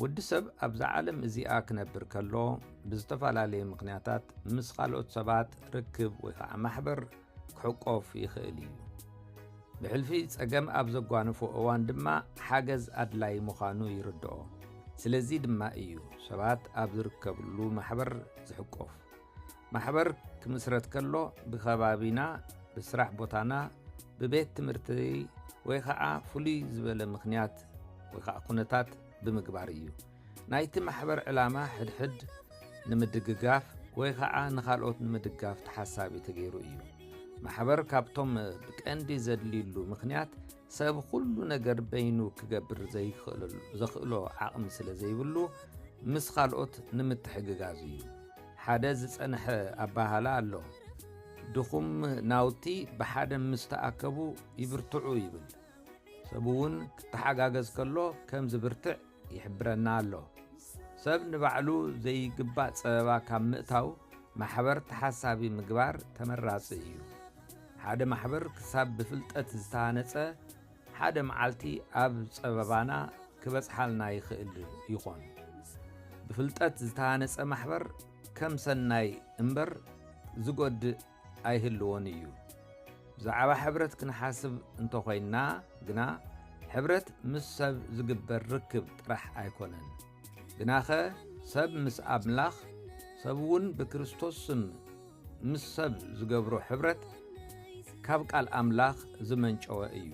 ወዲ ሰብ ኣብዛ ዓለም እዚኣ ክነብር ከሎ ብዝተፈላለየ ምኽንያታት ምስ ካልኦት ሰባት ርክብ ወይ ከዓ ማሕበር ክሕቆፍ ይኽእል እዩ። ብሕልፊ ጸገም ኣብ ዘጓንፎ እዋን ድማ ሓገዝ ኣድላይ ምዃኑ ይርድኦ። ስለዚ ድማ እዩ ሰባት ኣብ ዝርከብሉ ማሕበር ዝሕቆፍ። ማሕበር ክምስረት ከሎ ብከባቢና ብስራሕ ቦታና ብቤት ትምህርቲ ወይ ኸዓ ፍሉይ ዝበለ ምኽንያት ወይ ኸዓ ኩነታት ብምግባር እዩ ናይቲ ማሕበር ዕላማ ሕድሕድ ንምድግጋፍ ወይ ኸዓ ንኻልኦት ንምድጋፍ ተሓሳቢ ተገይሩ እዩ ማሕበር ካብቶም ብቀንዲ ዘድልዩሉ ምኽንያት ሰብ ዅሉ ነገር በይኑ ኪገብር ዘይክእልዘኽእሎ ዓቕሚ ስለ ዘይብሉ፣ ምስ ኻልኦት ንምትሕግጋዝ እዩ። ሓደ ዝጸንሐ ኣበሃህላ ኣሎ፣ ድኹም ናውቲ ብሓደ ምስ ተኣከቡ ይብርትዑ ይብል። ሰብውን ኪተሓጋገዝ ከሎ ከም ዚብርትዕ ይሕብረና ኣሎ። ሰብ ንባዕሉ ዘይግባእ ጸበባ ካብ ምእታው ማሕበር ተሓሳቢ ምግባር ተመራጺ እዩ። ሓደ ማሕበር ክሳብ ብፍልጠት ዝተሃነጸ ሓደ መዓልቲ ኣብ ጸበባና ክበጽሓልና ይኽእል ይኾን። ብፍልጠት ዝተሃነጸ ማሕበር ከም ሰናይ እምበር ዝጎድእ ኣይህልዎን እዩ። ብዛዕባ ሕብረት ክንሓስብ እንተኾይንና ግና ሕብረት ምስ ሰብ ዝግበር ርክብ ጥራሕ ኣይኮነን። ግናኸ ሰብ ምስ ኣምላኽ ሰብውን ብክርስቶስ ስም ምስ ሰብ ዝገብሮ ሕብረት ካብ ቃል ኣምላኽ ዝመንጨወ እዩ።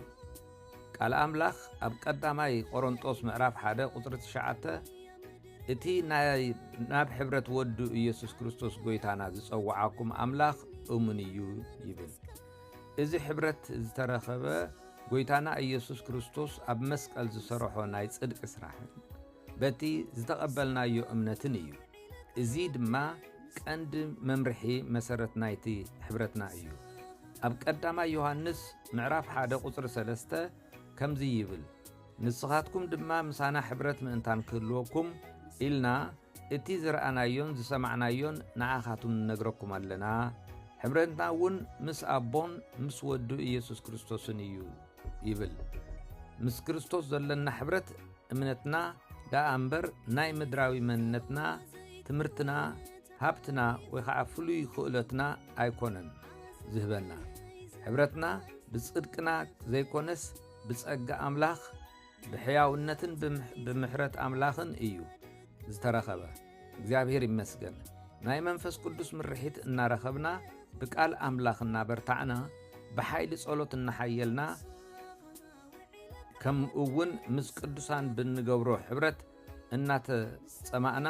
ቃል ኣምላኽ ኣብ ቀዳማይ ቈረንጦስ ምዕራፍ ሓደ ቁጽሪ ትሽዓተ እቲ ናይ ናብ ሕብረት ወዱ ኢየሱስ ክርስቶስ ጐይታና ዝጸውዓኩም ኣምላኽ እሙን እዩ ይብል። እዚ ሕብረት ዝተረኸበ ጐይታና ኢየሱስ ክርስቶስ ኣብ መስቀል ዝሰርሖ ናይ ጽድቂ ስራሕን በቲ ዝተቐበልናዮ እምነትን እዩ። እዚ ድማ ቀንዲ መምርሒ መሰረት ናይቲ ሕብረትና እዩ። ኣብ ቀዳማይ ዮሃንስ ምዕራፍ 1 ቁጽሪ 3 ከምዚ ይብል ንስኻትኩም ድማ ምሳና ሕብረት ምእንታን ክህልወኩም ኢልና እቲ ዝረኣናዮን ዝሰማዕናዮን ንዓኻቱም ንነግረኩም ኣለና ሕብረትና እውን ምስ ኣቦን ምስ ወዱ ኢየሱስ ክርስቶስን እዩ ይብል ምስ ክርስቶስ ዘለና ሕብረት እምነትና ደኣ እምበር ናይ ምድራዊ መንነትና ትምህርትና ሃብትና ወይ ከዓ ፍሉይ ክእለትና ኣይኮነን ዝህበና ሕብረትና ብፅድቅና ዘይኮነስ ብፀጋ ኣምላኽ ብሕያውነትን ብምሕረት ኣምላኽን እዩ ዝተረኸበ። እግዚኣብሔር ይመስገን ናይ መንፈስ ቅዱስ ምርሒት እናረኸብና ብቃል ኣምላኽ እናበርታዕና ብሓይሊ ጸሎት እናሓየልና ከምኡውን ምስ ቅዱሳን ብንገብሮ ሕብረት እናተጸማእና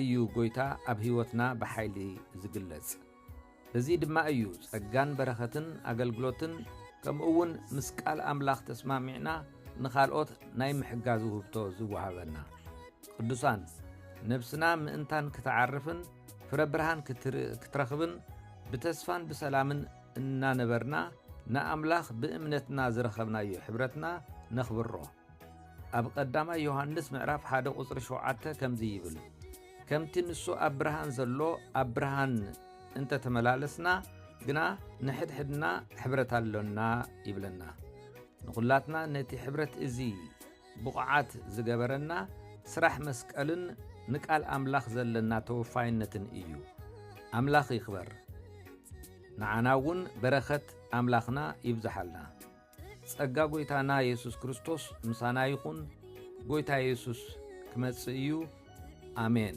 እዩ ጎይታ ኣብ ሕይወትና ብሓይሊ ዝግለጽ። በዚ ድማ እዩ ጸጋን በረኸትን ኣገልግሎትን ከምኡውን ምስ ቃል ኣምላኽ ተስማሚዕና ንኻልኦት ናይ ምሕጋዝ ውህብቶ ዝወሃበና። ቅዱሳን ነብስና ምእንታን ክትዓርፍን ፍረ ብርሃን ክትረኽብን ብተስፋን ብሰላምን እናነበርና ንኣምላኽ ብእምነትና ዝረኸብናዮ ሕብረትና ነኽብሮ። ኣብ ቐዳማይ ዮሃንስ ምዕራፍ ሓደ ቝጽሪ ሸውዓተ ከምዚ ይብል ከምቲ ንሱ ኣብ ብርሃን ዘሎ ኣብ ብርሃን እንተ ተመላለስና ግና ንሕድሕድና ሕብረት ኣሎና ይብለና ንዅላትና ነቲ ሕብረት እዚ ብቑዓት ዝገበረና ስራሕ መስቀልን ንቃል ኣምላኽ ዘለና ተወፋይነትን እዩ ኣምላኽ ይኽበር ንዓና እውን በረኸት ኣምላኽና ይብዝሓልና ጸጋ ጐይታና የሱስ ክርስቶስ ምሳና ይኹን። ጐይታ የሱስ ክመጽእ እዩ። ኣሜን።